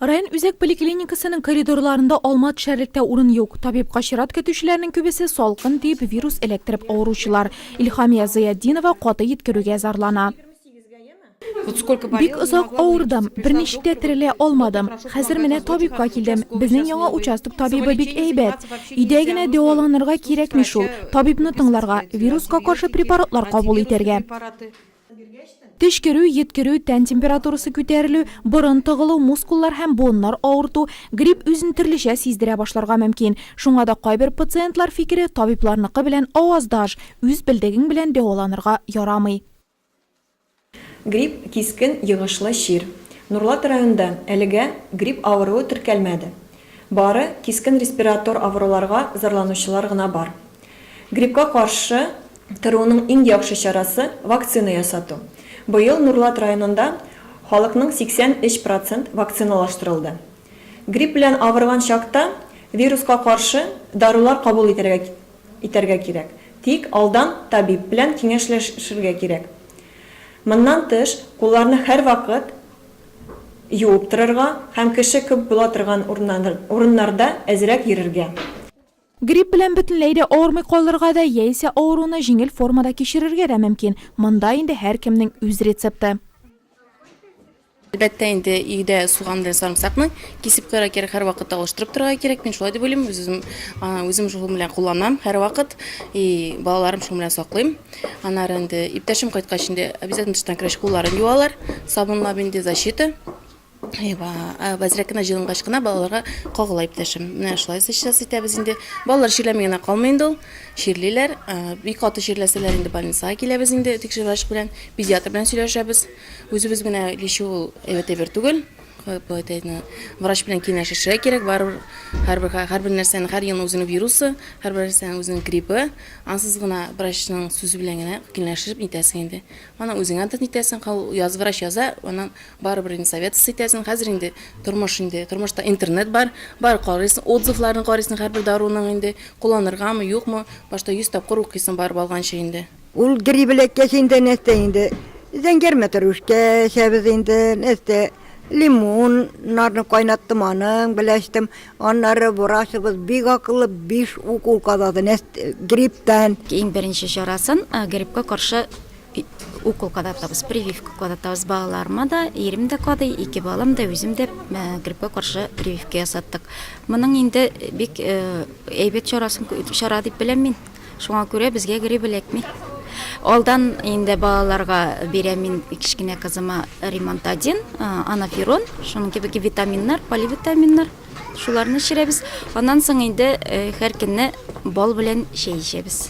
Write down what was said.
Район үзәк поликлиникасының коридорларында алма төшәрлектә урын юк. Табибка чират көтүчеләрнең күбесе салкын тиеп вирус эләктереп авыручылар. Илһамия Зыятдинова каты йиткерүгә зарлана. Бик озак авырдым, берничек тә терелә алмадым. Хәзер менә табибка килдем. Безнең яңа участок табибы бик әйбәт. Өйдә генә дәваланырга кирәкми шул. Табибны тыңларга, вируска каршы препаратлар кабул итәргә. Төчкерү, йөткерү, тән температурасы күтәрелү, борын тыгылу, мускуллар һәм буыннар авырту, грипп үзен төрлечә сиздерә башларга мөмкин. Шуңа да кайбер пациентлар фикере табибларныкы белән аваздаш, үз белдегең белән дәваланырга ярамый. Грипп, кискен йогышлы чир. Нурлат районында әлегә грипп авыруы теркәлмәде. Бары кискен респиратор авыруларга зарланучылар гына бар. Гриппка каршы торуның иң яхшы чарасы, вакцина ясату. Быел Нурлат районында халыкның 83 процент вакциналаштырылды. Грипп белән авырган чакта вируска каршы дарулар кабул итәргә кирәк, тик алдан табиб белән киңәшләшергә кирәк. Моннан тыш, кулларны һәрвакыт юып торырга һәм кеше күп була торган урыннарда әзрәк йөрергә. Грипп белән бөтенләй дә авырмый калырга да яисә авыруны җиңел формада кичерергә дә мөмкин, монда инде һәркемнең үз рецепты. Әлбәттә инде, өйдә суган белән сарымсакны кисеп куярга кирәк, һәрвакыт алыштырып торырга кирәк, мин шулай дип уйлыйм, үзем, үзем шул белән кулланам һәрвакыт, и балаларым шуның белән саклыйм. Аннары инде иптәшем кайткач инде обязательно тыштан кергәч кулларын юалар, сабынлап инде защита. Әйва, әзрәк кенә җылынгач кына балаларга кагыла иптәшем. Менә шулай сейчас итәбез инде. Балалар чирләми генә калмый инде ул. Чирлиләр. Бик каты чирләсәләр инде больницага киләбез инде тикшерү врач белән. Педиатр белән сөйләшәбез. Үзебез генә лечу ул әйбәт әйбер түгел. Поэтайны врач белән киңәшешә кирәк. Барыбер һәрбер һәрбер нәрсәнең һәр елның үзенең вирусы, һәрбер нәрсәнең үзенең гриппы. Ансыз гына врачның сүзе белән генә киңәшеп нитәсең инде. Аны үзең антын итәсең, яз врач яза, аны Барыбер инде советос итәсең, хәзер инде тормыш инде, тормышта интернет бар, бар карыйсың, отзывларны карыйсың һәрбер даруның инде, кулланыргамы, юкмы, башта йөз тапкыр укыйсың барып алганчы инде. Ул грип эләккәч инде нәрсә инде, зәңгәр мәтрүшкә эчәбез инде, нәрсә, лимоннарны кайнаттым, аның белән эчтем, аннары врачыбыз бик акыллы, биш укол кадады, гриптан. Иң беренче чарасын, грипка каршы укол кадатабыз прививка кадатабыз балаларыма да ирем дә кадый ике балам да үзем дә э, гриппка каршы прививка ясаттык моның инде бик э, әйбәт чарасын чара дип беләм мин шуңа күрә безгә грипп эләкми алдан инде балаларга бирәм мин кечкенә кызыма ремонт один э, анаферон шуның кебек витаминнар поливитаминнар шуларны эчерәбез аннан соң инде һәр көнне бал белән чәй эчәбез